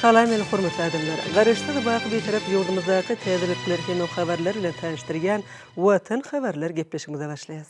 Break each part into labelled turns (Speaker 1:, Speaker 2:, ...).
Speaker 1: Salam meni hormatly adamlar! Garaşsyz baky Bitarap ýurdumyzdaky täzelikler hemem habarlar bilen tanyşdyrýan Watan habarlar gepleşigimize başlaýas.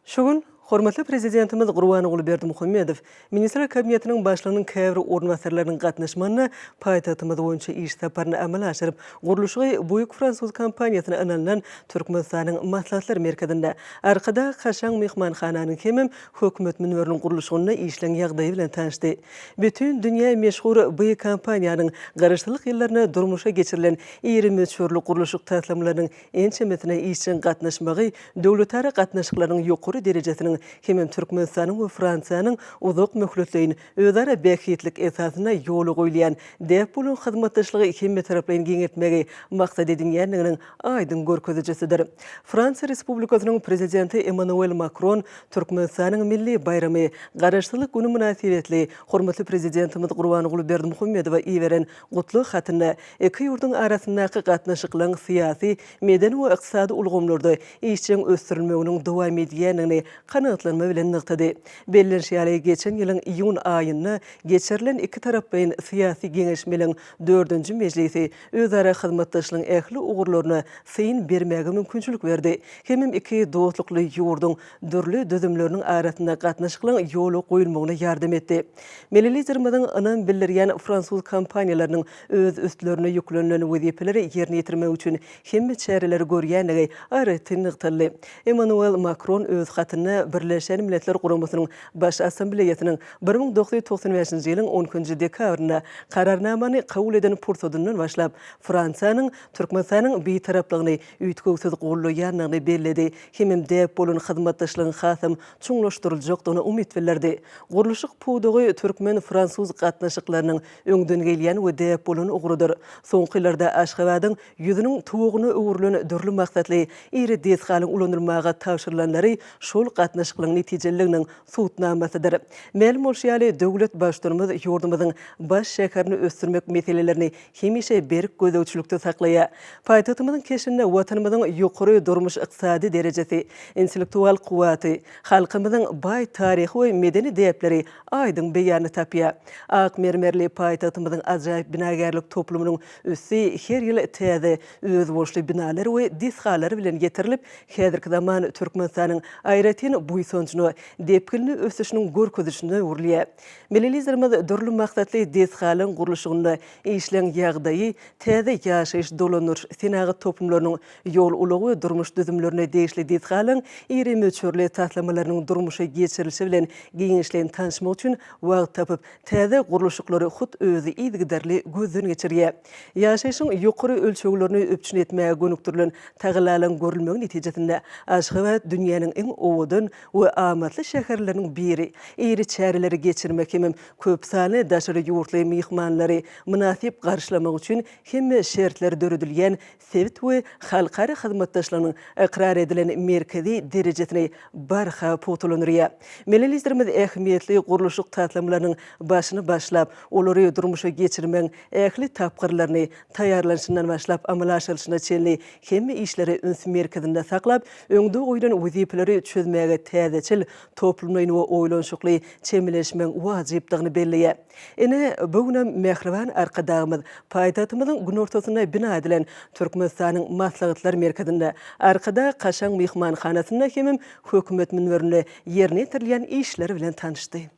Speaker 1: Şu gün hormatly Prezidentimiz Gurbanguly Berdimuhamedow Ministrler Kabinetiniň Başlygynyň käbir orunbasarlarynyň gatnaşmagynda paýtagtymyz boýunça iş saparyny amala aşyryp, gurluşygy Buig fransuz kompaniýasyna ynanylan Türkmenistanyň Maslahatlar merkezinde, Arkadag kaşaň myhmanhananyň hemem Hökümet münberiniň gurluşygynda işleň ýagdaýy bilen tanyşdy. Bütin dünýä meşhur bu kompaniýanyň Garaşsyzlyk ýyllarynda durmuşa geçirilen iri möçberli gurluşyk taslamalarynyň ençemesine işjeň gatnaşmagy döwletara gatnaşyklarynyň ýokary derejesiniň hemem Türkmenistanyň we Fransiýanyň uzak möhletleýin özara bähbitlik esasynda ýola goýulýan däp bolan hyzmatdaşlygy hemmetaraplaýyn giňeltmegi maksat edinýändiginiň aýdyň görkezijisidir. Fransiýa Respublikasynyň Prezidenti Emmanuel Makron Türkmenistanyň milli baýramy, Garaşsyzlyk güni mynasybetli hormatly Prezidentimiz Gurbanguly Berdimuhamedowa iberen gutlag hatynda iki ýurduň arasyndaky gatnaşyklaryň syýasy, medeni we ykdysady ulgamlarda işjeň ösdürilmeginiň dowam edýändigini kanagatlanma bilen nygtady. Bellenişi ýaly, geçen ýylyň iýun aýynda geçirilen iki taraplaýyn syýasy geňeşmeliň dördünji mejlisi özara hyzmatdaşlygyň ähli ugurlaryna syn bermäge mümkinçilik berdi hemem iki dostlukly ýurduň dürli düzümleriniň arasynda gatnaşyklaryň ýola goýulmagyna ýardam etdi. Milli Liderimiziň ynam bildirýän fransuz kompaniýalarynyň öz üstlerine ýüklenilen wezipeleri ýerine ýetirmek üçin hemme çäreleri görýändigi aýratyn nygtaldy. Emmanuel Makron öz hatynda Birleşen Milletler Guramasynyň Baş Assambleýasynyň bir müň dokuz ýüz togsan bäşinji ýylyň on ikinji dekabrynda Kararnamany kabul eden pursadyndan başlap, Fransiýanyň Türkmenistanyň Bitaraplygyny üýtgewsiz goldaýandygyny belledi hemem däp bolan hyzmatdaşlygyň hasam çuňlaşdyryljakdygyna umyt bildirdi. Gurluşyk pudagy türkmen-fransuz gatnaşyklarynyň öňden gelýän we däp bolan ugrudyr. Soňky ýyllarda Aşgabadyň ýüzüniň tuwagyna öwrülen dürli maksatly iri desgalaryň ulanylmaga tabşyrylanlary şol gatnaşyklygyň netijeliliginiň subutnamasydyr. Mälim bolşy ýaly, döwlet Baştutanymyz ýurdumyzyň baş şäherini ösdürmek meselelerini hemişe berk gözegçilikde saklaýar. Paýtagtymyzyň keşbinde Watanymyzyň ýokary durmuş-ykdysady derejesi, intellektual kuwwaty, halkymyzyň baý taryhy we medeni däpleri aýdyň beýanyny tapýar. Ak mermerli paýtagtymyzyň ajaýyp binagärlik toplumynyň üsti her ýyl täze, özboluşly binalar we desgalar bilen ýetirilip, häzirki zaman Türkmenistanyň aýratyn buýsanjyna, depginli ösüşiniň görkezijisine öwrülýär. Milli Liderimiz dürli maksatly desgalaryň gurluşygynda işleň ýagdaýy, täze ýaşaýyş-dolandyryş-senagat toplumlarynyň Ýol, ulag we durmuş düzümlerine degişli desgalaryň iri möçberli taslamalarynyň durmuşa geçirilişi bilen giňişleýin tanyşmak üçin wagt tapyp, täze gurluşyklary hut özi yzygiderli gözden geçirýär. Ýaşaýşyň ýokary ölçeglerini üpjün etmäge gönükdirilen tagallalaryň görülmegi netijesinde, Aşgabat dünýäniň iň owadan we amatly şäherleriniň biri, iri çäreleri geçirmek hemem köp sanly daşary ýurtly myhmanlary mynasyp garşylamak üçin hemme şertler döredilýän sebit we halkara hyzmatdaşlygynyň ykrar edilen merkezi derejesini barha pugtalandyrýar. Milli Liderimiz ähmiýetli gurluşyk taslamalarynyň başyny başlap, olary durmuşa geçirmegiň ähli tapgyrlaryny, taýýarlanyşyndan başlap, amala aşyrylyşyna çenli hemme işleri üns merkezinde saklap, öňde goýlan wezipeleri çözmäge täzeçil, toplumlaýyn we oýlanyşykly çemeleşmegiň wajypdygyny belleýär. Ine, bu günem mähriban Arkadagymyz paýtagtymyzyň günortasynda bina edilen Türkmenistanyň Maslahatlar merkezinde, Arkadag kaşaň myhmanhanasynda hemem Hökümet münberinde ýerine ýetirilýän işler bilen tanyşdy.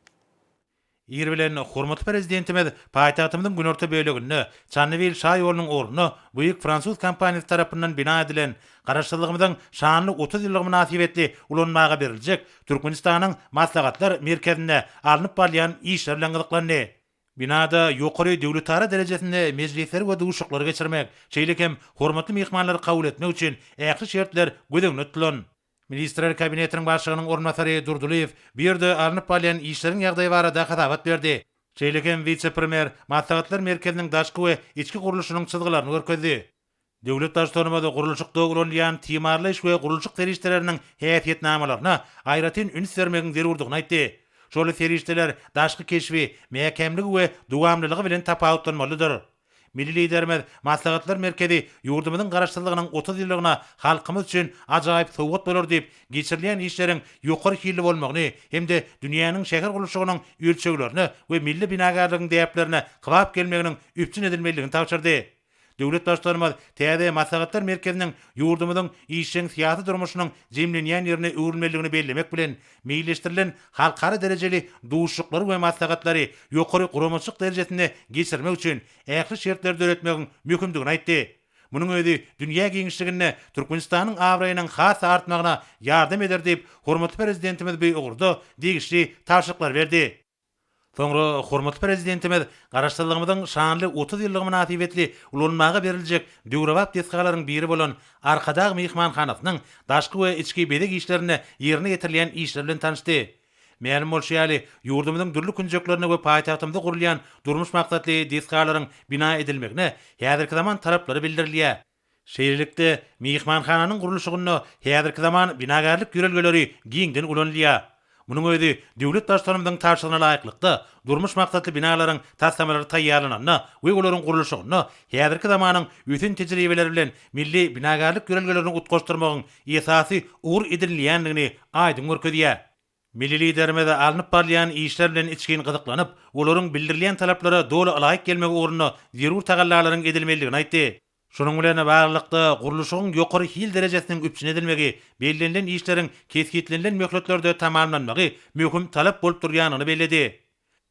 Speaker 2: Ir bilen hormatly Prezidentimiz paýtagtymyzyň günorta böleginde, Çandybil şaýolunyň ugrunda buýik fransuz kompaniýasy tarapyndan bina edilen Garaşsyzlygymyzyň şanly otuz ýyllygy mynasybetli ulanmaga beriljek Türkmenistanyň Maslahatlar merkezinde alnyp barylýan işler bilen gyzyklandy. Binada ýokary döwletara derejesinde mejlisleri we duşaklary geçirmek, şeýle hem hormatly myhmanlary kabul etmek üçin ähli şertler göz öňünde tutulan. Ministrler Kabinetiniň Başlygynyň orunbasary Durdylyýew bu ýerde alnyp barylýan işleriň ýagdaýy barada hasabat berdi. Şeýle hem wise-premýer Maslahatlar merkeziniň daşky we içki gurluşynyň çyzgylaryny görkezdi. Döwlet Baştutanymyz gurluşykda ulanylýan timarlaýyş we gurluşyk serişdeleriniň häsiýetnamalaryna aýratyn üns bermegiň zerurdygyny aýtdy. Şol serişdeler daşky keşbi, mäkämligi we dowamlylygy bilen tapawutlanmalydyr. Milli Liderimiz Maslahatlar merkezi ýurdumyzyň Garaşsyzlygynyň otuz ýyllygyna halkymyz üçin ajaýyp sowgat bolar diýip, geçirilýän işleriň ýokary hilli bolmagyny hem-de dünýäniň şäher gurluşygynyň ölçeglerine we milli binagärligiň däplerine kybap gelmeginiň üpjün edilmelidigini tabşyrdy. Döwlet Baştutanymyz täze Maslahatlar merkeziniň ýurdumyzyň işjeň syýasy durmuşynyň jemlenýän ýerine öwrülmelidigini bellemek bilen, meýilleşdirilen halkara derejeli duşuşyklary we maslahatlary ýokary guramaçylyk derejesinde geçirmek üçin ähli şertleri döretmegiň möhümdigini aýtdy. Munuň özi dünýä giňişliginde Türkmenistanyň abraýynyň has-da artmagyna ýardam eder diýip, hormatly Prezidentimiz bu ugurda degişli tabşyryklary berdi. Soňra hormatly Prezidentimiz Garaşsyzlygymyzyň şanly otuz ýyllygy mynasybetli ulanmaga beriljek döwrebap desgalaryň biri bolan Arkadag myhmanhanasynyň daşky we içki bezeg işlerinde ýerine ýetirilýän işler bilen tanyşdy. Mälim bolşy ýaly, ýurdumyzyň dürli künjeklerinde we paýtagtymyzda gurulýan durmuş maksatly desgalaryň bina edilmegine häzirki zaman talaplary bildirilýär. Şeýlelikde, myhmanhananyň gurluşygynda häzirki zaman binagärlik ýörelgeleri giňden ulanylýar. Munuň özi döwlet Baştutanymyzyň tabşyrygyna laýyklykda, durmuş maksatly binalaryň taslamalary taýýarlananda we olaryň gurluşygynda häzirki zamanyň ösen tejribeleri bilen milli binagärlik ýörelgelerini utgaşdyrmagyň esasy ugur edinilýändigini aýdyň görkezýär. Milli Liderimiz alnyp barylýan işler bilen içgin gyzyklanyp, olaryň bildirilýän talaplara doly ylaýyk gelmegi ugrunda zerur tagallalaryň edilmelidigini aýtdy. Şunuň bilen baglylykda, gurluşygyň ýokary hil derejesiniň üpjün edilmegi, bellenilen işleriň kesgitlenilen möhletlerde tamamlanmagy möhüm talap bolup durýandygyny belledi.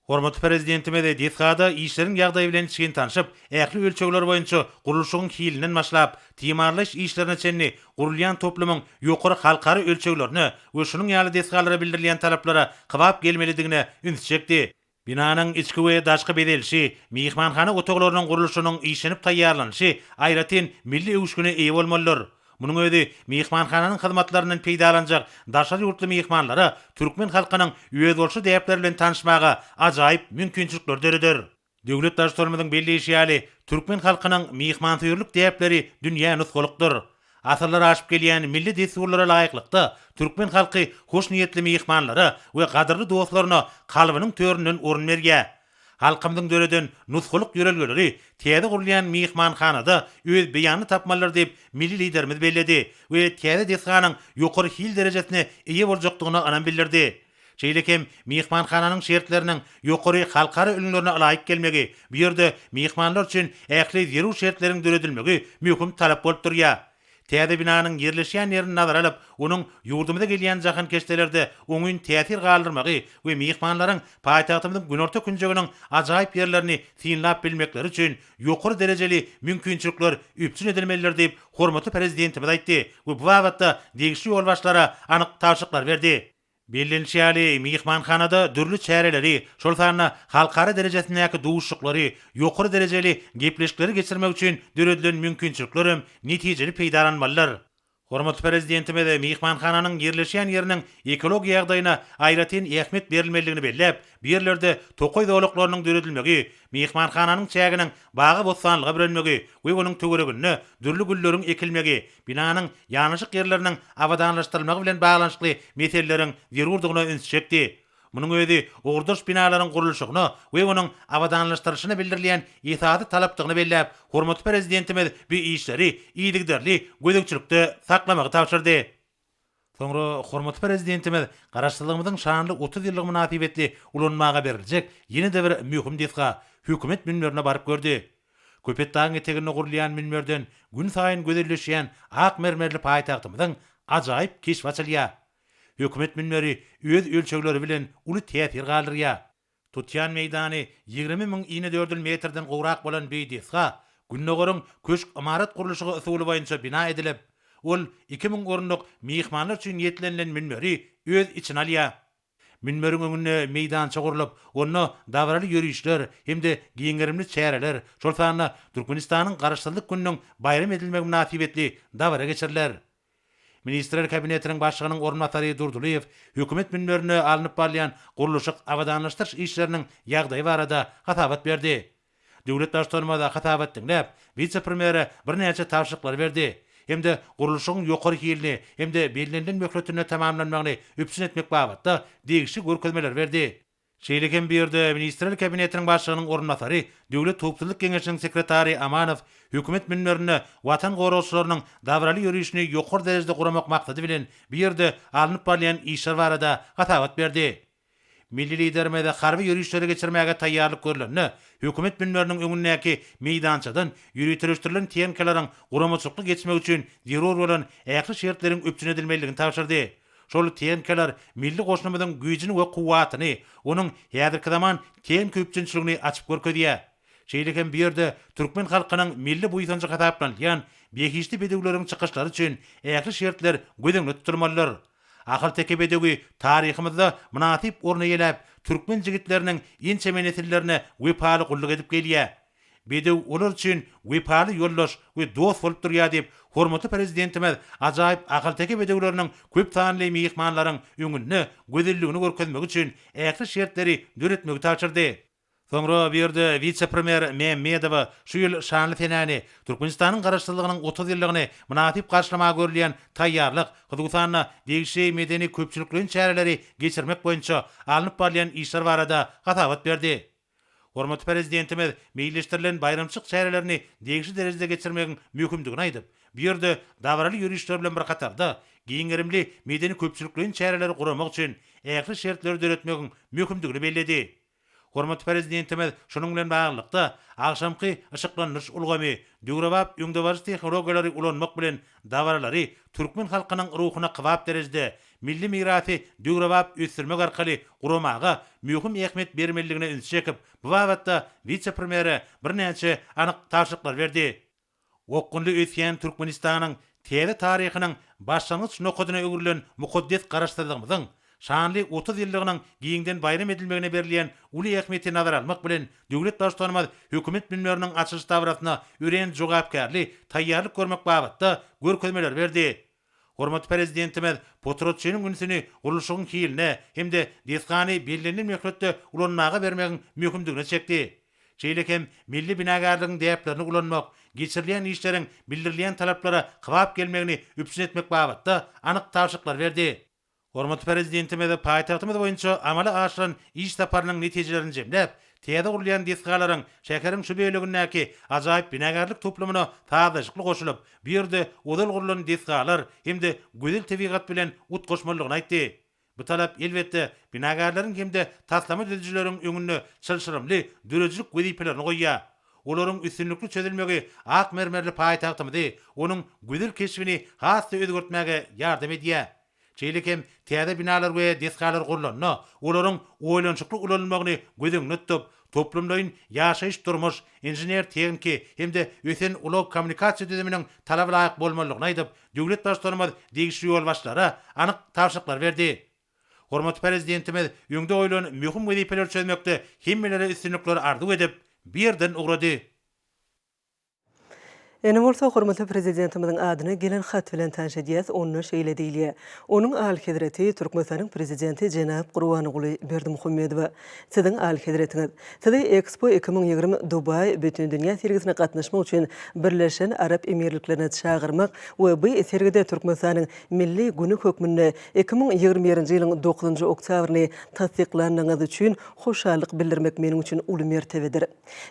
Speaker 2: Hormatly Prezidentimiz desgada işleriň ýagdaýy bilen içgin tanşyp, ähli ölçegler boýunça gurluşygyň hilinden başlap, timarlaýyş işlerine çenli gurulýan toplumyň ýokary halkara ölçeglerine we şunuň ýaly desgalara bildirilýän talaplara kybap gelmelidigine üns çekdi. Binanyň içki we daşky bezelişi, myhmanhana otaglarynyň gurluşynyň işlenip taýýarlanyşy aýratyn milli öwüşgine eýe bolmalydyr. Munuň özi myhmanhananyň hyzmatlaryndan peýdalanjak daşary ýurtly myhmanlara türkmen halkynyň özboluşly däpleri bilen tanyşmaga ajaýyp mümkinçilikleri döreder. Döwlet Baştutanymyzyň belleýşi ýaly, türkmen halkynyň myhmansöýerlik däpleri dünýä nusgalykdyr. Asyrlar aşyp gelýän milli dessurlara laýyklykda, türkmen halky hoşniýetli myhmanlara we gadyrly dostlaryna kalbynyň töründen orun berýär. Halkymyzyň döreden nusgalyk ýörelgeleri täze gurulýan myhmanhanada öz beýanyny tapmalydyr diýip, milli Liderimiz belledi we täze desganyň ýokary hil derejesine eýe boljakdygyna ynam bildirdi. Şeýle hem myhmanhananyň şertleriniň ýokary halkara ülňülerine ylaýyk gelmegi, bu ýerde myhmanlar üçin ähli zerur şertleriň döredilmegi möhüm talap bolup durýar. Täze binanyň ýerleşýän ýerini nazara alyp, onuň ýurdumyza gelýän jahankeşdelerde oňyn täsir galdyrmagy we myhmanlaryň paýtagtymyzyň günorta künjeginiň ajaýyp ýerlerini synlap bilmekleri üçin ýokary derejeli mümkinçilikler üpjün edilmelidir diýip, hormatly Prezidentimiz aýtdy we bu babatda degişli ýolbaşçylara anyk tabşyryklar berdi. Bellenişi ýaly, myhmanhanada dürli çäreleri, şol sanda halkara derejesindäki duşuşyklary, ýokary derejeli gepleşikleri geçirmek üçin döredilen mümkinçilikler hem netijeli peýdalanmalydyr. Hormatly Prezidentimiz myhmanhananyň ýerleşýän ýeriniň ekologiýa ýagdaýyna aýratyn ähmiýet berilmelidigini belläp, bu ýerlerde tokaý zolaklarynyň döredilmegi, myhmanhananyň çäginiň bagy-bossanlyga bürenmegi we onuň töwereginde dürli gülleriň ekilmegi binanyň ýanaşyk ýerleriniň abadanlaşdyrylmagy bilen baglanyşykly meseleleriň zerurdygyna üns çekdi. Munuň özi ugurdaş binalaryň gurluşygyna we onuň abadanlaşdyrylyşyna bildirilýän esasy talapdygyny belläp, hormatly Prezidentimiz bu işleri yzygiderli gözegçilikde saklamagy tabşyrdy. Soňra hormatly Prezidentimiz Garaşsyzlygymyzyň şanly otuz ýyllygy mynasybetli ulanmaga beriljek ýene-de bir möhüm desga, Hökümet münberine baryp gördi. Köpetdagyň eteginde gurulýan münberden günsaýyn gözelleşýän ak mermerli paýtagtymyzyň ajaýyp keşbi açylýar. Hökümet münberi öz ölçegleri bilen uly täsir galdyrýar. Tutýan meýdany ýigrimi müň inedördül metrden gowrak bolan Beýdesga, Gündogaryň köşk ymarat gurluşygy usuly boýunça bina edilip, ol iki müň orunlyk myhmanlar üçin niýetlenilen münberi öz içine alýar. Münberiň öňünde meýdança gurlup, onda dabaraly ýörişler hem-de giň gerimli çäreler, şol sanda Türkmenistanyň Garaşsyzlyk gününiň baýram edilmegi mynasybetli dabara geçiriler. Ministrler Kabinetiniň Başlygynyň orunbasary Durdylyýew Hökümet münberinde alnyp barylýan gurluşyk, abadanlaşdyryş işleriniň ýagdaýy barada hasabat berdi. Döwlet Baştutanymyz hasabat diňläp, wise-premýere birnäçe tabşyryklary berdi hem-de gurluşygyň ýokary hilini hem-de bellenilen möhletinde tamamlanmagyny üpjün etmek babatda degişli görkezmeleri berdi. Şeýle hem bu ýerde Ministrler Kabinetiniň Başlygynyň orunbasary, Döwlet howpsuzlyk geňeşiniň sekretary Amanow hökümet münberinde Watan goragçylarynyň dabaraly ýörişini ýokary derejede guramak maksady bilen bu ýerde alnyp barylýan işler barada hasabat berdi. Milli Liderimiz harby ýörişleri geçirmäge taýýarlyk görlende hökümet münberiniň öňündäki meýdançadan ýöriteleşdirilen tenkeleriň guramaçylykly geçmegi üçin zerur bolan ähli şertleriň üpjün edilmelidigini tabşyrdy. Şol tenkalar milli goşunymyzyň güýjüni we kuwwatyny, onuň häzirki zaman tenka üpjünçiligini açyp görkezýär. Şeýle hem bu ýerde türkmen halkynyň milli buýsanjy hasaplanylýan behişdi bedewleriň çykyşlary üçin ähli şertler göz öňünde tutulmalydyr. Ahalteke bedewi taryhymyzda mynasyp orun eýeläp, türkmen jigitleriniň ençeme nesillerine wepaly gulluk edip gelýär. Bedew olar üçin wepaly ýoldaş we dost bolup durýar diýip, hormatly Prezidentimiz ajaýyp ahalteke bedewleriniň köp sanly myhmanlaryň öňünde gözelligini görkezmegi üçin ähli şertleri döretmegi tabşyrdy. Soňra bu ýerde wise-premýer Mämmedowa şu ýyl şanly senäni, Türkmenistanyň Garaşsyzlygynyň otuz ýyllygyny mynasyp garşylamaga görülýän taýýarlyk, hususan-da, degişli medeni-köpçülikleýin çäreleri geçirmek boýunça alnyp barylýan işler barada hasabat berdi. Hormatly Prezidentimiz meýilleşdirilen baýramçylyk çärelerini degişli derejede geçirmegiň möhümdigini aýdyp, bu ýerde dabaraly ýörişler bilen bir hatarda, giň gerimli medeni-köpçülikleýin çäreleri guramak üçin ähli şertleri döretmegiň möhümdigini belledi. Hormatly Prezidentimiz şunuň bilen baglylykda, agşamky yşyklandyryş ulgamy, döwrebap öňdebaryjy tehnologiýalary ulanmak bilen dabaralary türkmen halkynyň ruhuna kybap derejede milli mirasy döwrebap ösdürmek arkaly guramaga möhüm ähmiýet bermelidigine ünsi çekip, bu babatda wise-premýere birnäçe anyk tabşyryklary berdi. Okgunly ösýän Türkmenistanyň täze taryhynyň başlangyç nokadyna öwrülen mukaddes Garaşsyzlygymyzyň şanly otuz ýyllygynyň giňden baýram edilmegine berilýän uly ähmiýeti nazara almak bilen, döwlet Baştutanymyz hökümet münberiniň açylyş dabarasyna örän jogapkärli taýýarlyk görmek babatda görkezmeleri berdi. Hormatly Prezidentimiz potratçynyň ünsüni gurluşygyň hiline hem-de desgany bellenilen möhletde ulanmaga bermegiň möhümdigine çekdi. Şeýle hem milli binagärligiň däplerini ulanmak, geçirilýän işleriň bildirilýän talaplara kybap gelmegini üpjün etmek babatda anyk tabşyryklar berdi. Hormatly Prezidentimiz paýtagtymyz boýunça amala aşyran iş saparynyň netijelerini jemläp, täze gurulýan desgalaryň şäheriň şu bölegindäki ajaýyp binagärlik toplumyna sazlaşykly goşulyp, bu ýerde ozal gurlan desgalar hem-de gözel tebigat bilen utgaşmalydygyny aýtdy. Bu talap, elbetde, binagärleriň hem-de taslama düzüjileriň öňünde çylşyrymly döredijilik wezipelerini goýýar. Olaryň üstünlikli çözülmegi ak mermerli paýtagtymyzy, onuň gözel keşbini has-da özgertmäge ýardam edýär. Şeýle hem täze binalar we desgalar gurlanda, olaryň oýlanyşykly ulanylmagyny göz öňünde tutup, toplumlaýyn ýaşaýyş-durmuş, inžener-tehniki hem-de ösen ulag-kommunikasiýa düzüminiň talaba laýyk bolmalydygyny aýdyp, döwlet Baştutanymyz degişli ýolbaşçylara anyk tabşyryklar berdi. Hormatly Prezidentimiz öňde goýlan möhüm wezipeleri çözmekde hemmelere üstünlikler arzuw edip, bu ýerden ugrady.
Speaker 1: Indi bolsa hormatly Prezidentimiziň adyna gelen hat bilen tanyş edýäs, onda şeýle diýilýär, Onuň Alyhezreti Türkmenistanyň Prezidenti jenap Gurbanguly Berdimuhamedowa, Siziň Alyhezretiňiz, sizi Expo iki müň ýigrimi Dubai Bütindünýä sergisine gatnaşmak üçin Birleşen Arap Emirliklerine çagyrmak we bu sergide Türkmenistanyň Milli güni hökmünde iki müň ýigrimi birinji ýylyň dokuzynjy oktýabryny tassyklandygyňyz üçin hoşallyk bildirmek meniň üçin uly mertebedir.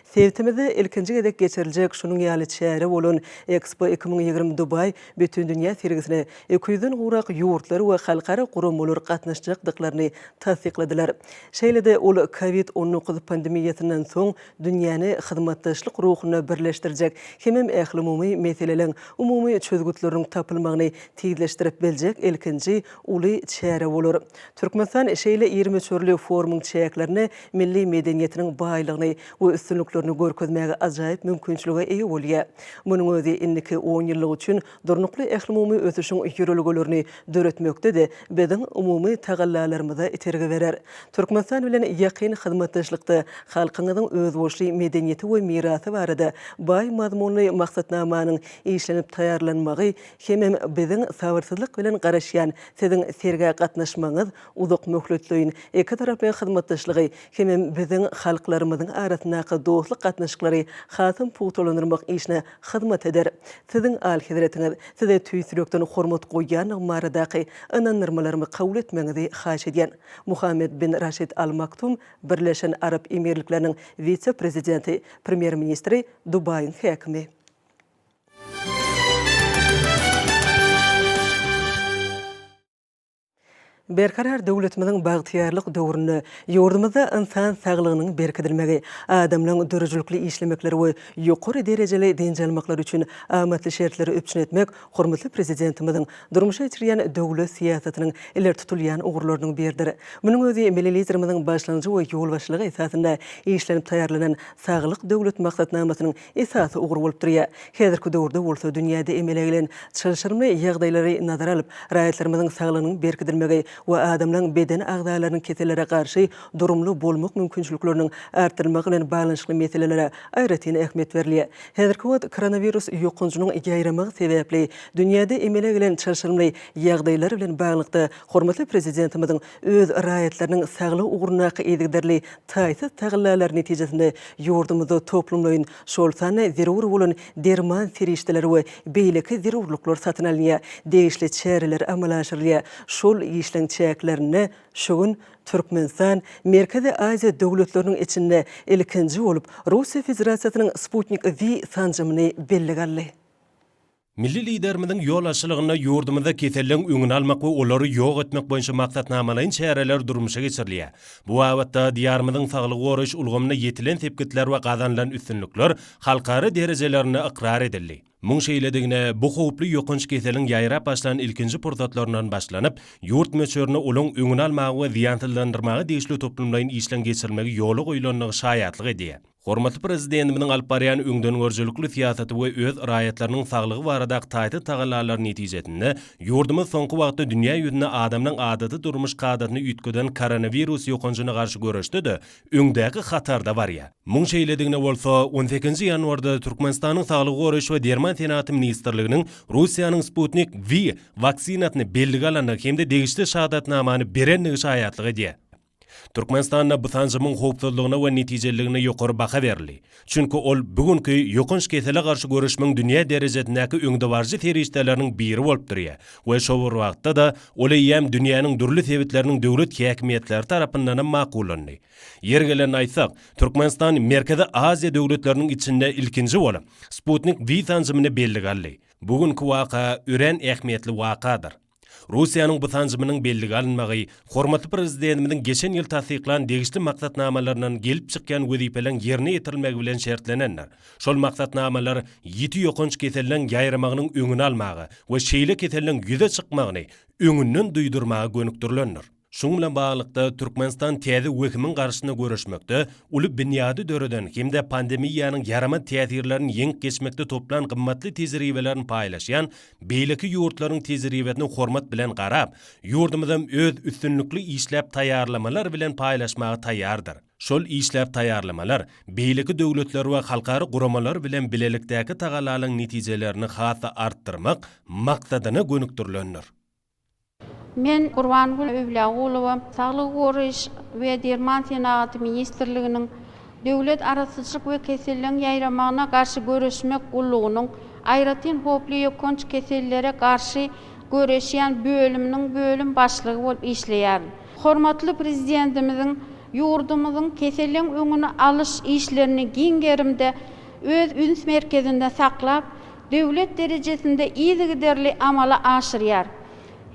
Speaker 1: Sebitimizde ilkinji gezek geçiriljek şunuň ýaly çäre bolan Expo iki müň ýigrimi Dubaý bütindünýä sergisine iki ýüzden gowrak ýurtlar we halkara guramalar gatnaşjakdyklaryny tassykladylar. Şeýle-de ol Covid on dokuz pandemiýasyndan soň dünýäni hyzmatdaşlyk ruhunda birleşdirjek hemem ählumumy meseleleriň umumy çözgütleriniň tapylmagyny tizleşdirip biljek ilkinji uly çäre bolar. Türkmenistan şeýle iri möçberli forumyň çäklerine milli medeniýetiniň baýlygyny we üstünliklerini görkezmäge ajaýyp mümkinçilige eýe bolýar. Munuň özi indiki onýyllyk üçin durnukly ählumumy ösüşiň ýörelgelerini döretmekde-de biziň umumy tagallalarymyza itergi berer. Türkmenistan bilen ýakyn hyzmatdaşlykda halkyňyzyň özboluşly medeniýeti we mirasy barada baý mazmunly maksatnamanyň işlenip taýýarlanmagy hemem biziň sabyrsyzlyk bilen garaşýan Siziň sergä gatnaşmagyňyz uzakmöhletleýin ikitaraplaýyn hyzmatdaşlygy hemem biziň halklarymyzyň arasyndaky dostluk gatnaşyklary hasam pugtalandyrmak işine hyzmat eder. Siziň, Alyhezretiňiz, Size tüýs ýürekden hormat goýýandygym baradaky ynandyrmalarymy kabul etmegiňizi haýyş edýän. Muhammed bin Raşid Al Maktum, Birleşen Arap Emirlikleriniň wise-prezidenti, premýer-ministri, Dubaýyň häkimi. Berkarar döwletimiziň bagtyýarlyk döwründe ýurdumyzda ynsan saglygynyň berkidilmegi, adamlaryň döredijilikli işlemekleri we ýokary derejeli dynç almaklary üçin amatly şertleri üpjün etmek hormatly Prezidentimiziň durmuşa geçirýän döwlet syýasatynyň ileri tutulýan ugurlarynyň biridir. Munuň özi Milli Liderimiziň başlangyjy we ýolbaşçylygy esasynda işlenip taýýarlanan Saglyk Döwlet maksatnamasynyň esasy ugur bolup durýar. Häzirki döwürde bolsa dünýäde emele gelen çylşyrymly ýagdaýlary nazara alyp, raýatlarymyzyň saglygynyň berkidilmegi we adamlaryň beden agzalarynyň kesellere garşy durumly bolmak mümkinçilikleriniň artdyrylmagy bilen baglanyşykly meselelere aýratyn ähmiýet berilýär. Häzirki wagt koronawirus ýokanjynyň ýaýramagy sebäpli dünýäde emele gelen çylşyrymly ýagdaýlar bilen baglylykda, hormatly Prezidentimiziň öz raýatlarynyň saglygy ugrundaky yzygiderli taýsyz tagallalary netijesinde ýurdumyzda toplumlaýyn, şol sanda zerur bolan derman serişdeleri we beýleki zerurlyklar satyn alynýar, degişli çäreler amala aşyrylýar. Şol işleň çäklerinde şu gün Türkmenistan Merkezi Aziýa döwletleriniň içinde ilkinji bolup Russiýa Federasiýasynyň Sputnik V sanjymyny bellige aldy.
Speaker 3: Milli Liderimiziň ýol açylygynda ýurdumyzda keselligiň öňüni almak we olary ýok etmek boýunça maksatnamalaýyn çäreler durmuşa geçirilýär. Bu babatda Diýarymyzyň saglygy goraýyş ulgamynda ýetilen sepgitler we gazanylan üstünlikler halkara derejelerinde ykrar edildi. Muň şeýledigine bu howply ýokanç keseliň ýaýrap başlan ilkinji pursatlaryndan başlanyp, ýurt möçberinde olaň öňüni almaga we zyýansyzlandyrmaga degişli toplumlaýyn işleň geçirilmegi ýola goýlandygy şaýatlyk edýär. Hormatly Prezidentimiziň alyp barýan öňdengörüjilikli syýasaty we öz raýatlarynyň saglygy baradaky taýsyz tagallalary netijesinde, ýurdumyz soňky wagtda dünýä ýüzünde adamlaryň adaty durmuş kadasyny üýtgeden koronawirus ýokanjyna garşy göreşde-de öňdäki hatarda barýar. Muň şeýledigine bolsa, on sekizinji ýanwarda Türkmenistanyň Saglygy goraýyş we derman senagaty ministrliginiň Russiýanyň Sputnik V waksinasyny bellige alandygy hem-de degişli şahadatnamany berendigi şaýatlyk edýär. Türkmenistanda bu sanjymyň howpsuzlygyna we netijeliligine ýokary baha berildi, çünki ol bu günki ýokanç kesele garşy göreşmegiň dünýä derejesindäki öňdebaryjy serişdeleriniň biri bolup durýar we şo bir wagtda-da ol eýýäm dünýäniň dürli sebitleriniň döwlet häkimiýetleri tarapyndanam makullandy. Ýeri gelende aýtsak, Türkmenistan Merkezi Aziýa döwletleriniň içinde ilkinji bolup, Sputnik-V sanjymyny bellige aldy. Bu günki waka örän ähmiýetli wakadyr. Russiýanyň bu sanjymynyň bellige alynmagy hormatly Prezidentimiziň geçen ýyl tassyklan degişli maksatnamalaryndan gelip çykýan wezipeleriň ýerine ýetirilmegi bilen şertlenendir. Şol maksatnamalar ýiti ýokanç keseliniň ýaýramagynyň öňüni almaga we şeýle keseliniň ýüze çykmagyny öňünden duýdurmaga gönükdirilendir. Şunuň bilen baglylykda, Türkmenistan täze wehimiň garşysyna göreşmekde uly binýady döreden hem-de pandemiýanyň ýaramaz täsirlerini ýeňip geçmekde toplan gymmatly tejribelerini paýlaşýan beýleki ýurtlaryň tejribesine hormat bilen garap, ýurdumyzam öz üstünlikli işläp taýýarlamalary bilen paýlaşmaga taýýardyr. Şol işläp taýýarlamalar beýleki döwletler we halkara guramalar bilen bilelikdäki tagallalaryň netijelerini has-da artdyrmak maksadyna gönükdirilendir.
Speaker 4: Men Gurbangül Öwlýagulowa Saglygy goraýyş we derman senagaty ministrliginiň Döwlet arassaçylyk we keselleriň ýaýramagyna garşy göreşmek gullugynyň Aýratyn howply ýokanç kesellere garşy göreşýän bölüminiň bölüm başlygy bolup işleýärin. Hormatly Prezidentimiziň ýurdumyzyň keseliň öňüni alyş işlerini giň gerimde öz üns merkezinde saklap, döwlet derejesinde yzygiderli amala aşyrýar.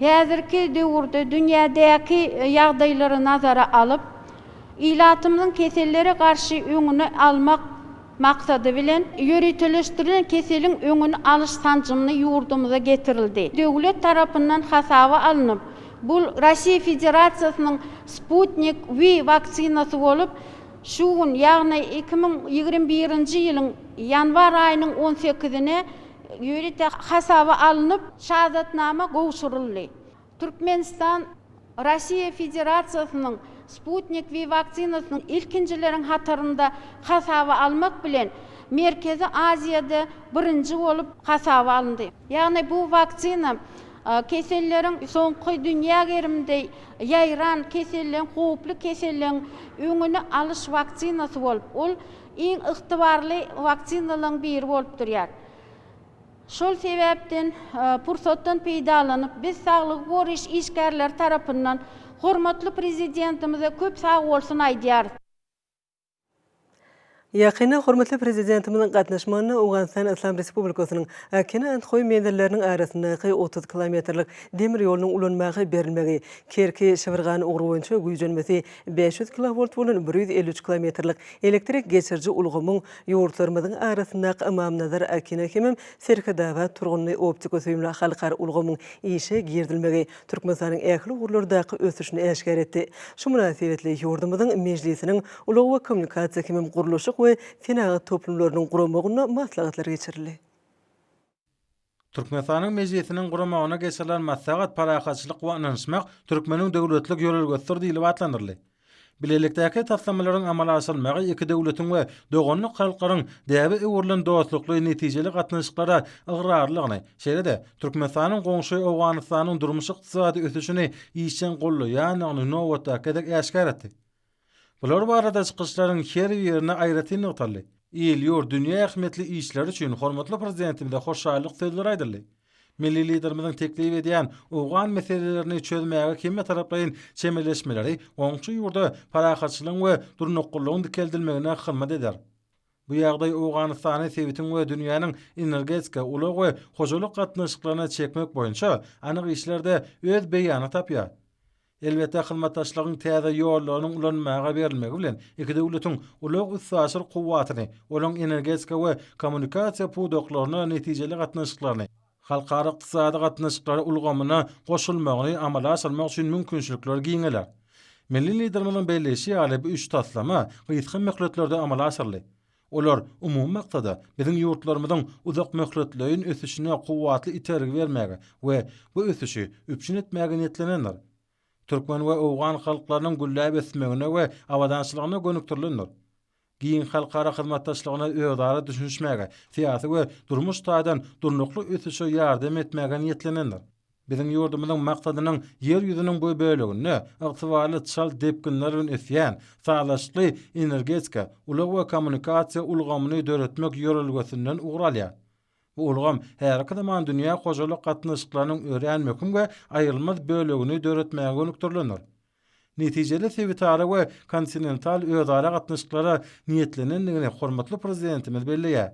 Speaker 4: Häzirki döwürde dünýädäki ýagdaýlary nazara alyp, ilatymyzyň kesellere garşy öňüni almak maksady bilen, ýöriteleşdirilen keseliň öňüni alyş sanjymyny ýurdumyza getirildi. Döwlet tarapyndan hasaba alnyp, bu Rasiýa Federasiýasynyň Sputnik V waksinasy bolup, Şu gün, ýagny iki müň ýigrimi birinji ýylyň ýanwar aýynyň on sekizine ýörite hasaba alnyp, şahadatnama gowşuryldy. Türkmenistan Russiýa Federasiýasynyň Sputnik V waksinasyny ilkinjileriň hatarynda hasaba almak bilen, Merkezi Aziýada birinji bolup hasaba alyndy. Ýagny bu waksina keselleriň soňky dünýä gerimde Ýaýran keselligiň howply keselligiň öňüni alyş waksinasy bolup, ol iň ygtybarly waksinalaryň biri bolup durýar. Şol sebäpden pursatdan peýdalanyp, biz saglygy goraýyş işgärleri tarapyndan hormatly Prezidentimize köp sagbolsun aýdýarys.
Speaker 1: Ýakynda hormatly Prezidentimiziň gatnaşmagynda Owganystan Yslam Respublikasynyň Akina Andhoý menzilleriniň arasyndaky otuz kilometrlik demir ýolunyň ulanmaga berilmegi, Kerki-Şibirgan ugry boýunça güýjenmesi bäş ýüz kilowolt bolan bir ýüz elli üç kilometrlik elektrik geçiriji ulgamyň ýurtlarymyzyň arasyndaky Ymamnazar-Akina hemem Serhetabat-Turgunly optiko-süýümli halkara ulgamyň işe girizilmegi Türkmenistanyň ähli ugurlardaky ösüşini äşgär etdi. Şu mynasybetli ýurdumyzyň Mejlisiniň ulag we kommunikasiýa hemem gurluşyk we senagat toplumlarynyň guramagynda maslahatlar geçirildi.
Speaker 5: Türkmenistanyň Mejlisiniň guramagynda geçirilen maslahat Parahatçylyk we ynanyşmak türkmeniň döwletlik ýörelgesidir diýlip atlandyryldy. Bilelikdäki taslamalaryň amala aşyrylmagy iki döwletiň we doganlyk halklaryň däbe öwrülen dostlukly netijeli gatnaşyklara ygrarlylygyny, şeýle-de Türkmenistanyň goňşy Owganystanyň durmuş-ykdysady ösüşini işjeň gollaýandygyny nobatdaky gezek äşgär etdi. Bular barada çykyşlaryň her birinde aýratyn nygtaldy. Il-ýurt, dünýä ähmiýetli işleri üçin hormatly Prezidentimize hoşallyk sözleri aýdyldy. Milli Liderimiziň teklip edýän owgan meselelerini çözmäge hemmetaraplaýyn çemeleşmeleri goňşy ýurda parahatçylygyň we durnuklylygyň dikeldilmegine hyzmat eder. Bu ýagdaý Owganystany sebitiň we dünýäniň energetika, ulag we hojalyk gatnaşyklaryna çekmek boýunça anyk işlerde öz beýanyny tapýar. Elbetde, hyzmatdaşlygyň täze ýollarynyň ulanmaga berilmegi bilen iki döwletiň ulag-üstaşyr kuwwatyny, olaryň energetika we kommunikasiýa pudaklaryna netijeli gatnaşyklaryny, halkara ykdysady gatnaşyklary ulgamyna goşulmagyny amala aşyrmak üçin mümkinçilikler giňeler. Milli Liderimiziň belleýşi ýaly, bu üç taslama gysga möhletlerde amala aşyryldy. Olar, umumy maksada, biziň ýurtlarymyzyň uzakmöhletleýin ösüşine kuwwatly itergi bermäge we bu ösüşi üpjün etmäge niýetlenendir. Türkmen we owgan halklarynyň gülläp ösmegine we abadançylygyna gönükdirilendir. Giň halkara hyzmatdaşlygyna özara düşünişmäge, syýasy we durmuş taýdan durnukly ösüşe ýardam etmäge niýetlenendir. Biziň ýurdumyzyň maksadynyň Ýer ýüzüniň bu böleginde ygtybarly çalt depginler bilen ösýän, sazlaşykly energetika, ulag we kommunikasiýa ulgamyny döretmek ýörelgesinden ugur alýar. Bu ulgam häzirki zaman dünýä hojalyk gatnaşyklarynyň örän möhüm we aýrylmaz bölegini döretmäge gönükdirilendir. Netijeli sebitara we kontinental özara gatnaşyklara niýetlenendigini hormatly Prezidentimiz belleýär.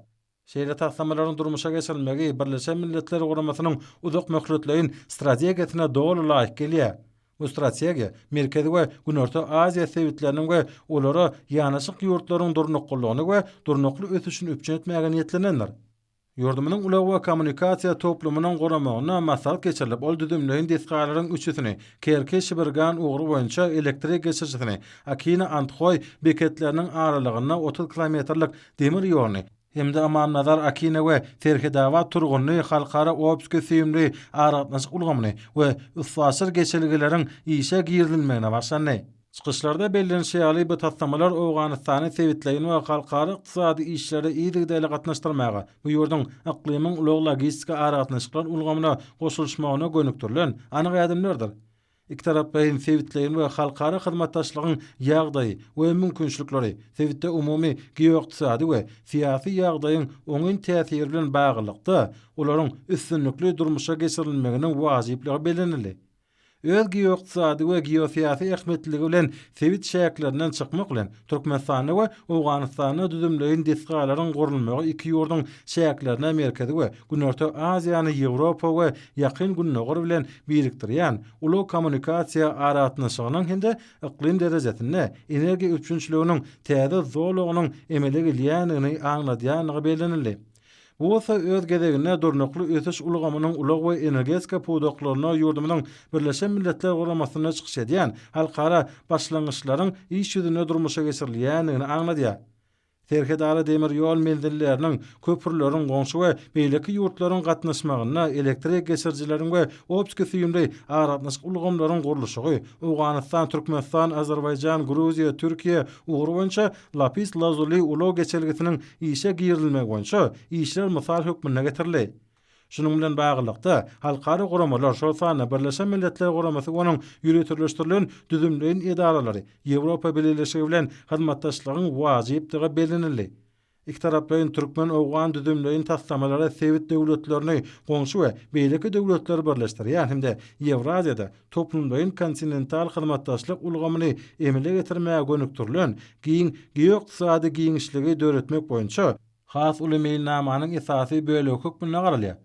Speaker 5: Şeýle taslamalaryň durmuşa geçirilmegi Birleşen Milletler Guramasynyň uzak möhletleýin strategiýasyna doly laýyk gelýär. Bu strategiýa Merkezi we Günorta Aziýa sebitleriniň we olara ýanaşyk ýurtlaryň durnuklylygyny we durnukly ösüşini üpjün etmäge niýetlenendir. Ýurdumyzyň ulag we kommunikasiýa toplumynyň guramagynda maslahat geçirilip, ol düzümleýin desgalaryň üçüsini, Kerki-Şibirgan ugry boýunça elektrik geçirijisini, Akina-Andhoý beketleriniň aralygynda otuz kilometrlik demir ýoluny hem-de Amannazar Akina we Serhetabat Turgunly halkara optiki süýümli aragatnaşyk ulgamyny we üstaşyr geçelgeleriň işe girizilmegine başlandy. Çykyşlarda bellenişi ýaly, bu taslamalar Owganystany sebitleýin we halkara ykdysady işlere yzygiderli gatnaşdyrmaga, bu ýurduň yklymyň ulag-logistika aragatnaşyklar ulgamyna goşulyşmagyna gönükdirilen anyk ädimlerdir. Ikitaraplaýyn, sebitleýin we halkara hyzmatdaşlygyň ýagdaýy we mümkinçilikleri, sebitde umumy geoykdysady we syýasy ýagdaýyň oňyn täsiri bilen baglylykda, olaryň üstünlikli durmuşa geçirilmeginiň wajyplygy bellenildi. Öz geoykdysady we geosyýasy ähmiýetliligi bilen sebit çäklerinden çykmak bilen, Türkmenistanda we Owganystanda düzümleýin desgalaryň gurulmagy iki ýurduň çäklerini Merkezi we Günorta Aziýany Ýewropa we Ýakyn Gündogar bilen birikdirýän ulag kommunikasiýa aragatnaşygynyň hem-de yklym derejesinde energiýa üpjünçiliginiň täze zolagynyň emele gelýändigini aňladýandygy bellenildi. Bu bolsa öz gezeginde durnukly ösüş ulgamynyň ulag we energetika pudaklarynda ýurdumyzyň Birleşen Milletler Guramasynda çykyş edýän halkara başlangyçlaryň iş ýüzünde durmuşa geçirilýändigini aňladýar. Serhetara demir ýol menzilleriniň, köprüleriň, goňşy we beýleki ýurtlaryň gatnaşmagynda elektrik geçirijileriň we optiki-süýümli aragatnaşyk ulgamlaryň gurluşygy, Owganystan, Türkmenistan, Azerbaýjan, Gruziýa, Türkiýe ugry boýunça Lapis Lazuli ulag geçelgesiniň işe girizilmegi boýunça işler mysal hökmünde getirildi. Şunuň bilen baglylykda, halkara guramalar, şol sanda Birleşen Milletler Guramasy we onuň ýöriteleşdirilen düzümleýin edaralary Ýewropa Bileleşigi bilen hyzmatdaşlygyň wajypdygy bellenildi. Ikitaraplaýyn türkmen-owgan düzümleýin taslamalary sebit döwletlerini, goňşy we beýleki döwletleri birleşdirýän hem-de Ýewraziýada toplumlaýyn kontinental hyzmatdaşlyk ulgamyny emele getirmäge gönükdirilen giň geoykdysady giňişligi döretmek boýunça has uly meýilnamanyň esasy bölegi hökmünde garalýar.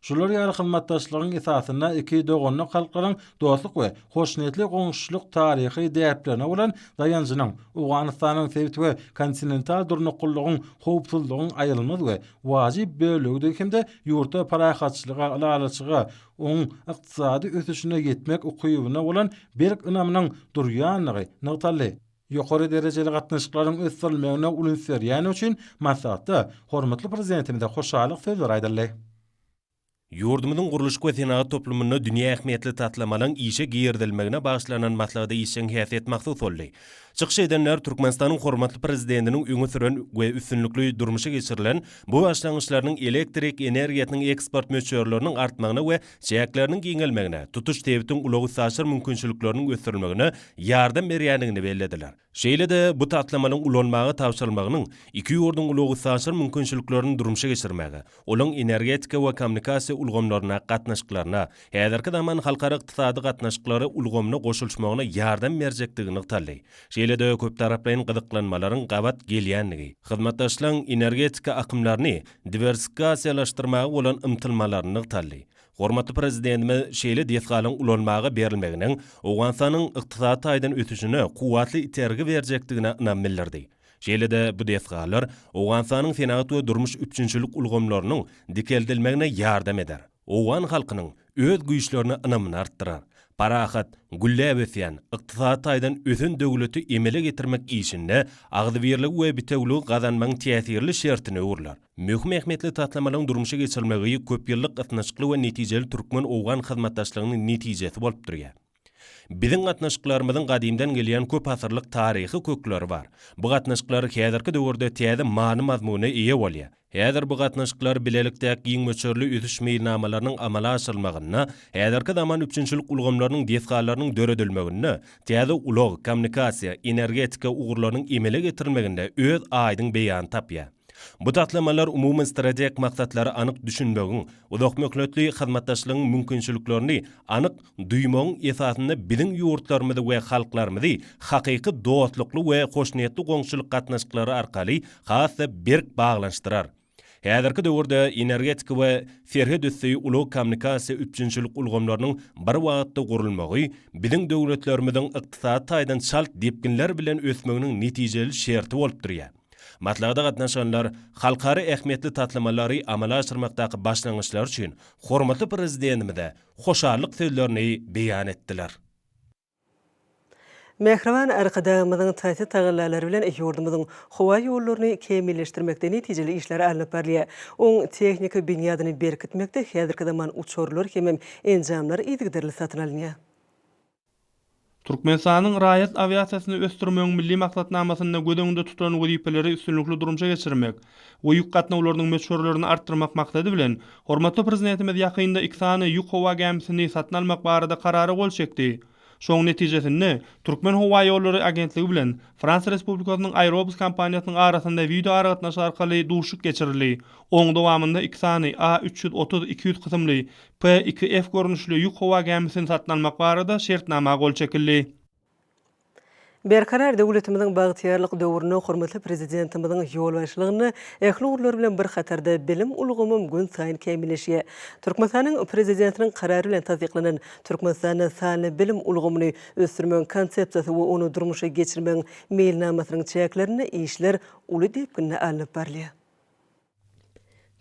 Speaker 5: Şular ýaly hyzmatdaşlygyň esasynda iki doganlyk halklaryň dostluk we hoşniýetli goňşuçylyk taryhy däplerine bolan daýanjynyň Owganystanyň sebit we kontinental durnuklylygyň, howpsuzlygyň aýrylmaz we wajyp bölegidigi hem-de ýurtda parahatçylyga, ylalaşyga, oňuň ykdysady ösüşine ýetmek ukybyna bolan berk ynamynyň durýandygy nygtaldy. Ýokary derejeli gatnaşyklaryň ösdürilmegine uly üns berýäni üçin maslahatda hormatly Prezidentimize hoşallyk sözleri aýdyldy.
Speaker 3: Ýurdumyzyň gurluşyk we senagat toplumynda dünýä ähmiýetli taslamalaryň işe girizilmegine bagyşlanan maslahata işjeň häsiýet mahsus boldy. Çykyş edenler Türkmenistanyň hormatly Prezidentiniň öňe süren we üstünlikli durmuşa geçirilen bu başlangyçlarynyň elektrik energiýasynyň eksport möçberleriniň artmagyna we çäkleriniň giňelmegine, tutuş sebitiň ulag-üstaşyr mümkinçilikleriniň ösdürilmegine ýardam berýändigini bellediler. Şeýle-de bu taslamanyň ulanmaga tabşyrylmagynyň iki ýurduň ulag-üstaşyr mümkinçiliklerini durmuşa geçirmäge, olaryň energetika we kommunikasiýa ulgamlaryna gatnaşyklaryna, häzirki zaman halkara ykdysady gatnaşyklary ulgamyna goşulyşmagyna ýardam berjekdigi nygtaldy. Şeýle-de köptaraplaýyn gyzyklanmalaryň gabat gelýändigi, hyzmatdaşlygyň energetika akymlaryny diwersifikasiýalaşdyrmaga bolan ymtylmalaryny nygtaldy. Hormatly Prezidentimiz şeýle desgalaryň ulanmaga berilmeginiň Owganystanyň ykdysady taýdan ösüşine kuwwatly itergi berjekdigine ynam bildirdi. Şeýle-de bu desgalar Owganystanyň senagat we durmuş üpjünçilik ulgamlarynyň dikeldilmegine ýardam eder, owgan halkynyň öz güýçlerine ynamyny artdyrar, parahat, gülläp ösýän, ykdysady taýdan ösen döwleti emele getirmek işinde agzybirligi we bitewiligi gazanmagyň täsirli şertine öwrüler. Möhüm ähmiýetli taslamalaryň durmuşa geçirilmegi köpýyllyk ysnyşykly we netijeli türkmen-owgan hyzmatdaşlygynyň netijesi bolup durýar. Biziň gatnaşyklarymyzyň gadymdan gelýän köp asyrlyk taryhy kökleri bar. Bu gatnaşyklar häzirki döwürde täze many-mazmuna eýe bolýar. Häzir bu gatnaşyklar bilelikdäki giň möçberli ösüş meýilnamalarynyň amala aşyrylmagynda, häzirki zaman üpjünçilik ulgamlarynyň desgalarynyň döredilmeginde, täze ulag, kommunikasiýa, energetika ugurlarynyň emele getirilmeginde öz aýdyň beýanyny tapýar. Bu taslamalar umumy strategik maksatlara anyk düşünmegiň, uzakmöhletli hyzmatdaşlygyň mümkinçiliklerini anyk Duýmagyň esasynda biziň ýurtlarymyzy we halklarymyzy hakyky dostlukly we hoşniýetli goňşuçylyk gatnaşyklary arkaly has-da berk baglanyşdyrar. Häzirki döwürde energetika we serhetüsti ulag-kommunikasiýa üpjünçilik ulgamlarynyň bir wagtda gurulmagy biziň döwletlerimiziň ykdysady taýdan çalt depginler bilen ösmeginiň netijeli şerti bolup durýar. Maslahata gatnaşanlar halkara ähmiýetli taslamalary amala aşyrmakdaky başlangyçlary üçin hormatly Prezidentimize hoşallyk sözlerini beýan etdiler.
Speaker 1: Mähriban Arkadagymyzyň taýsyz tagallalary bilen ýurdumyzyň howa ýollaryny kämilleşdirmekde netijeli işler alnyp barylýar. Oň tehniki binýadyny berkitmekde häzirki zaman uçarlar hemem enjamlar yzygiderli satyn alynýar.
Speaker 6: Türkmenistanyň raýat awiasiýasyny ösdürmegiň milli maksatnamasynda göz öňünde tutulan wezipeleri üstünlikli durmuşa geçirmek we ýük gatnawlarynyň möçberlerini artdyrmak maksady bilen, hormatly Prezidentimiz ýakynda iki sany ýük howa gämisini satyn almak barada karara gol çekdi. Şonuň netijesinde, Türkmenhowaýollary agentligi bilen Fransiýa Respublikasynyň Aerobus kompaniýasynyň arasynda wideoaragatnaşyk arkaly duşuşyk geçirildi, onuň dowamynda iki sany A üç ýüz otuz iki ýüz kysymly P-2F görnüşli ýük howa gämisini satyn almak barada şertnama gol çekildi. Berkarar
Speaker 1: döwletimiziň bagtyýarlyk döwründe hormatly Prezidentimiziň ýolbaşçylygynda ähli ugurlar bilen bir hatarda bilim ulgamym günsaýyn kämilleşýär. Türkmenistanyň Prezidentiniň Karary bilen tassyklanan Türkmenistanda sanly bilim ulgamyny ösdürmegiň Konsepsiýasy we ony durmuşa geçirmegiň Meýilnamasynyň çäklerinde işler uly depginde alnyp barylýar.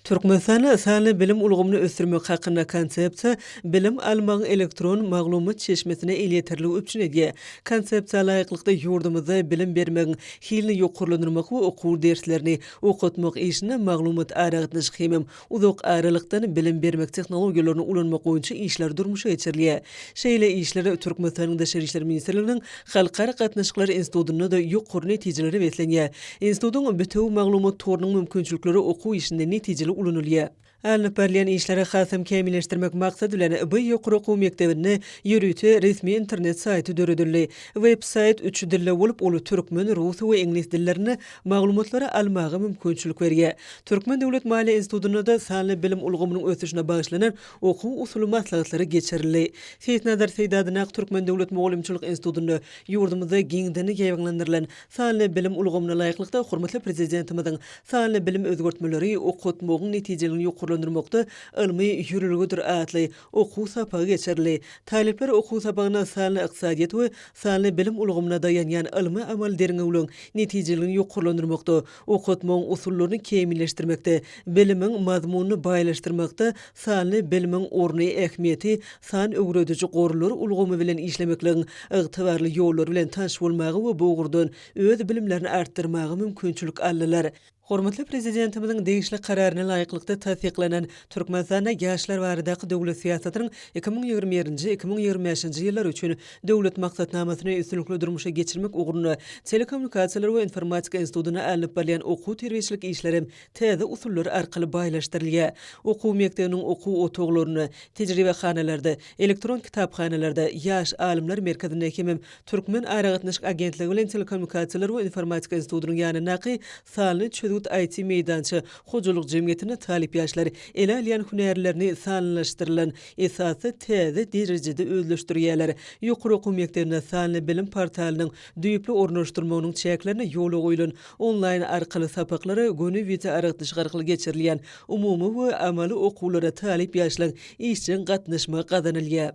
Speaker 1: Türkmenistanda sanly bilim ulgamyny ösdürmek hakynda Konsepsiýa bilim almagyň elektron maglumat çeşmesine elýeterligi üpjün edýär. Konsepsiýa laýyklykda, ýurdumyzda bilim bermegiň hilini ýokarlandyrmak we okuw derslerini okatmak işinde maglumat-aragatnaşyk hemem uzak aralykdan bilim bermek tehnologiýalaryny ulanmak boýunça işler durmuşa geçirilýär. Şeýle işler Türkmenistanyň Daşary işler ministrliginiň Halkara gatnaşyklary institutynda-da ýokary netijelere beslenýär. Institutyň bitewi maglumat torunyň mümkinçilikleri okuw işinde netijeli ulanylýar. Alnyp barylýan işleri hasam kämilleşdirmek maksady bilen, bu ýokary okuw mekdebinde ýörite resmi internet saýty döredildi. Web-saýt üç dilde bolup, ol türkmen, rus we iňlis dillerinde maglumatlary almaga mümkinçilik berýär. Türkmen döwlet maliýe institutynda-da sanly bilim ulgamynyň ösüşine bagyşlanan Okuw-usuly maslahatlary geçirildi. Seýitnazar Seýdadyn ak Türkmen döwlet mugallymçylyk institutynda ýurdumyzda giňden ýaýbaňlandyrylan sanly bilim ulgamyna laýyklykda hormatly Prezidentimiziň Sanly bilim özgertmeleri okatmagyň netijeligini ýokarlandyrmakda ylmy ýörelgedir atly okuw sapagy geçirildi. Talyplar okuw sapagyna sanly ykdysadyýet we sanly bilim ulgamyna daýanýan ylmy-amaly derňewligiň netijeligini ýokarlandyrmakda Okatmagyň usullaryny kämilleşdirmekde, bilimiň mazmunyny baýlaşdyrmakda sanly bilimiň orny, ähmiýeti, san öwrediji gorlar ulgamy bilen işlemekligiň ygtybarly ýollary bilen tanyş bolmaga we bu ugurdan öz bilimlerini artdyrmaga mümkinçilik aldylar. Hormatly Prezidentimiziň degişli Kararyna laýyklykda tassyklanan Türkmenistanda ýaşlar baradaky döwlet syýasatynyň iki müň ýigrimi birinji, iki müň ýigrimi bäşinji ýyllar üçin Döwlet maksatnamasyny üstünlikli durmuşa geçirmek ugrunda Telekommunikasiýalar we informatika institutynda alnyp barylýan okuw-terbiýeçilik işleri hem täze usullar arkaly baýlaşdyrylýar. Okuw mekdebiniň okuw otaglarynda, tejribehanalarda, elektron kitaphanalarda, Ýaş alymlar merkezinde hemem Türkmen aragatnaşyk agentligi bilen Telekommunikasiýalar we informatika institutynyň ýanyndaky Salny çözgüt IT meýdança hojalyk jemgyýetinde talyp ýaşlar ele alýan hünärlerini sanlylaşdyrylan esasda täze derejede özleşdirýärler. Ýokary okuw mekdebinde Salny bilim portalynyň düýpli ornaşdyrmagynyň çäklerinde ýola goýlan onlaýn arkaly sapaklara göni wideoaragtyşyk arkaly geçirilýän umumy we amaly okuwlara talyp ýaşlaryň işjeň gatnaşmagy gazanylýar.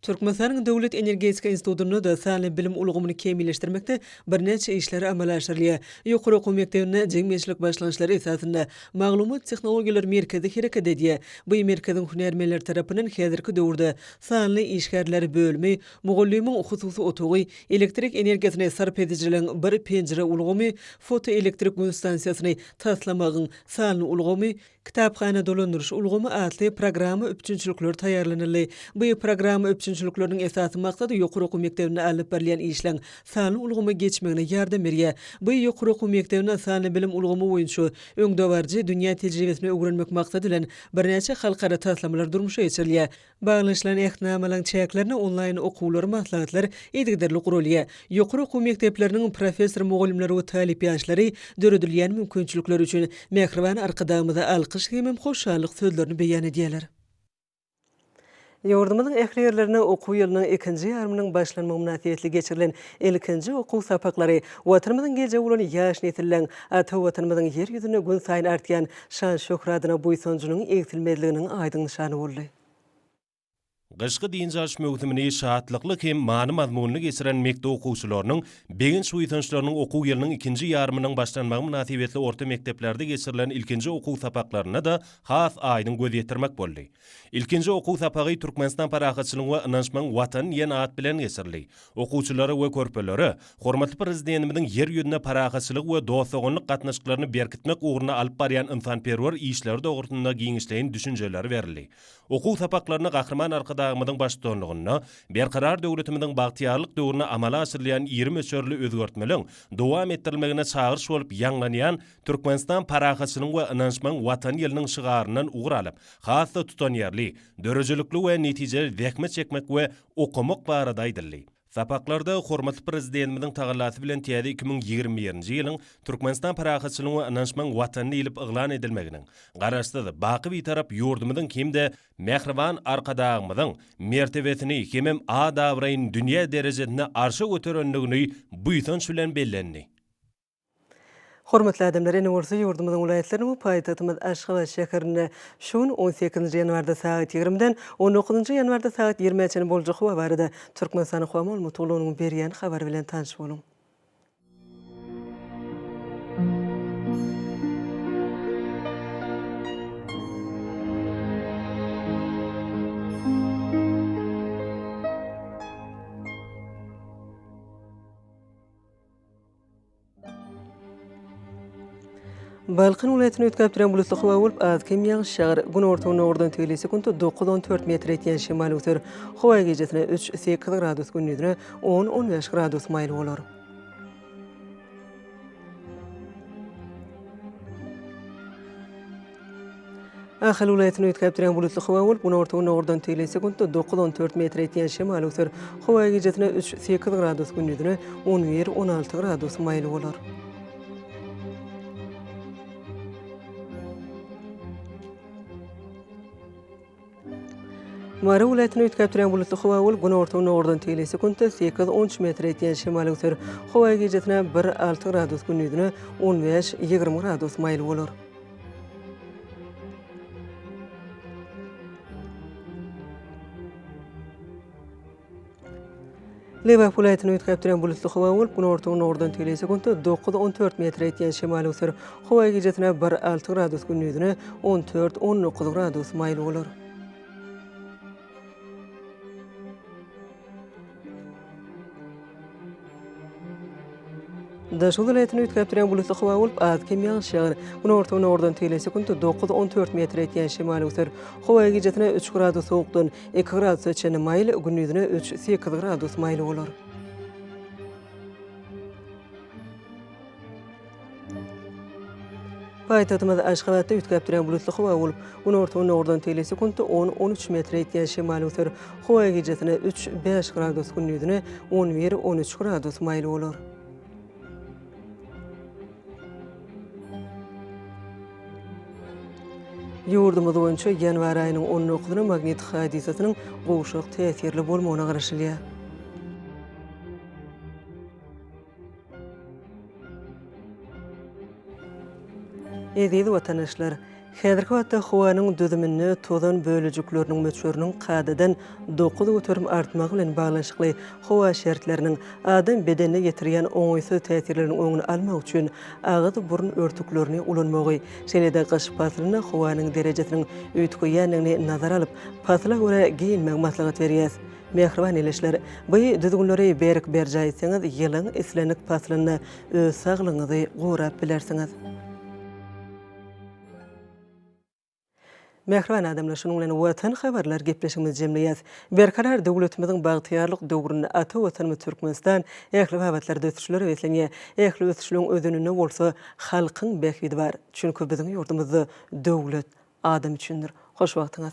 Speaker 1: Türkmenistanyň Döwlet energetika institutynda da sanly bilim ulgamyny kämilleşdirmekde birnäçe işler amala aşyrylýar. Ýokary okuw mekdebinde jemgyýetçilik başlangyçlary esasynda Maglumat tehnologiýalary merkezi hereket edýär. Bu merkeziň hünärmenleri tarapyndan häzirki döwürde Sanly işgärler bölümi, Mugallymyň hususy otagy, Elektrik energiýasyny sarp edijileriň bir penjire ulgamy, Fotoelektrik gün stansiýasyny taslamagyň sanly ulgamy, Kitaphana dolandyryş ulgamy atly programma üpjünçilikleri taýýarlanyldy. Bu programma üpjünçilikleriniň esasy maksady ýokary okuw mekdebinde alnyp barylýan işleň sanly ulgama geçmegine ýardam berýär. Bu ýokary okuw mekdebine sanly bilim ulgamy boýunça öňdebaryjy dünýä tejribesini öwrenmek maksady bilen birnäçe halkara taslamalar durmuşa geçirilýär. Baglanyşylan Ähtnamalaryň çäklerinde onlaýn okuwlar, maslahatlar yzygiderli guralýar. Ýokary okuw mekdepleriniň professor-mugallymlary we talyp ýaşlary döredilýän mümkinçilikler üçin mähriban Arkadagymyza alkyş hemem hoşallyk sözlerini beýan edýärler. Ýurdumyzyň ähli ýerlerinde okuw ýylynyň ikinji ýarymynyň başlanmagy mynasybetli geçirilen ilkinji okuw sapaklary Watanymyzyň geljegi bolan ýaş nesilleň, ata Watanymyzyň Ýer ýüzünde gün saýyn artýan Şan-şöhratyna buýsanjynyň egsilmezliginiň aýdyň nyşany boldy.
Speaker 3: Gyşky dynç alyş möwsümini şatlykly hem many-mazmunly geçiren mekdep okuwçylarynyň begenç-buýsançlarynyň okuw ýylynyň ikinji ýarymynyň başlanmagy mynasybetli orta mekdeplerde geçirilen ilkinji okuw sapaklarynda-da has aýdyň göz ýetirmek boldy. Ilkinji okuw sapagy Türkmenistan parahatçylygyň we ynançmagyň Watany diýen at bilen geçirildi. Okuwçylara we körpelere hormatly Prezidentimiziň Ýer ýüzünde parahatçylygy we dost-doganlyk gatnaşyklaryny berkitmek ugrunda alyp barýan ynsanperwer işleri dogrusynda giňişleýin düşünjeler berildi. Okuw sapaklaryna Gahryman Arkadagymyzyň baştutanlygynda Berkarar döwletimiziň bagtyýarlyk döwründe amala aşyrylýan iri möçberli özgertmeleriň dowam etdirilmegine çagyryş bolup ýaňlanýan Türkmenistan parahatçylygyň we ynanyşmagyň Watany ýylynyň şygaryndan ugur alyp, has-da tutanýerli, döredijilikli we netijeli zähmet çekmek we okamak barada aýdyldy. Sapaklarda hormatly Prezidentimiziň tagallasy bilen täze iki müň ýigrimi birinji ýylyň Türkmenistan parahatçylygyň we ynanyşmagyň Watany diýlip yglan edilmeginiň Garaşsyz, baky Bitarap ýurdumyzyň hem-de mähriban Arkadagymyzyň mertebesini hemem at-abraýyny dünýä derejesinde arşa göterendigini buýsanç bilen bellendi.
Speaker 1: Hormatly adamlar, ene bolsa ýurdumyzyň welaýatlarynyň we paýtagtymyz Aşgabat şäherinde şu gün on sekizinji ýanwarda sagat ýigrimiden on dokuzynjy ýanwarda sagat ýirmä çenli boljak howa barada Türkmenistanyň howa maglumat gullugynyň berýän habary bilen tanyş boluň. Balkan welaýatyny üýtgäp duran bulutly howa bolup, az kem ýagyş ýagar. Günorta-gündogardan tüýli sekuntda dokuz, on dört metr ýetýän şemal öser. Howa gijesine üç, sekiz gradus, gündizine on, on bäş gradus maýyl bolar. Ahal welaýatyny üýtgäp durýan bulutly howa bolup, günorta-günde ugurdan tegelek sekuntda dokuz, on dört metr ýetýän şemal öser. Howa gijesine üç, sekiz gradus, gündizine on bir, on alty gradus maýyl bolar. Mary welaýatyny üýtgäp durýan bulutly howa bolup, günorta-gündogardan tegelýär. Sekuntda sekiz, on üç metre ýetýän şemal öser. Howa gijasine bir, alty gradus, gündizine on bäş, ýigrimi gradus maýyl bolar. Lebap welaýatyny üýtgäp duran bulutly howa bolup, günorta-günordan tegelýän sekuntda dokuz, on dört metre ýetýän şemal öwser. Howa gijasynda bir, alty gradus, gündizine on dört, on dokuz gradus maýyl bolar. Daşky welaýatyny üýtgäp durýan bulutly howa bolup, az-kem ýagyş ýagar. Günorta-günordan tele sekunt dokuz, on dört metr ýetýän şemal öwser. Howa gijasine üç gradus sowukdan, iki gradusa çenli maýyl, gündizine üç, sekiz gradus maýyl bolar. Paýtagtymyz Aşgabatda üýtgäp duran bulutly howa bolup, günorta-gündogardan teýle sekuntda on, on üç metre ýetýän şemal öser. Howa gijesine üç, bäş gradus, gündizine on bir, on üç gradus maýyl bolar. Ýurdumyz boýunça ýanwar aýynyň on dokuzyna magnit hadysasynyň gowşak täsirli bolmagyna garaşylýar. Eziz watanaşlar! Häzirki wagtda howanyň düzüminde tozan bölejikleriniň möçberiniň kadadan dokuz göterim artmagy bilen baglanyşykly howa şertleriniň adam bedenine ýetirýän oňaýsyz täsirleriniň öňüni almak üçin agyz-burun örtüklerini ulanmagy, şeýle-de gyş paslynda howanyň derejesiniň üýtgeýändigini nazara alyp, pasla görä geýinmegi maslahat berýäs. Mähriban ilisler, bu düzgünleri berk berjaý etseňiz, ýylyň islendik paslynda öz saglygyňyzy gorap bilersiňiz. Mähriban adamlar, şunuň bilen Watan habarlar gepleşigimizi jemleýäs. Berkarar döwletimiziň bagtyýarlyk döwründe ata Watanymyz Türkmenistan ähli babatlarda ösüşlere beslenýär. Ähli ösüşligiň özeninde bolsa halkyň bähbidi bar. Çünki biziň ýurdumyzda döwlet adam üçindir. Hoş wagtyňyz.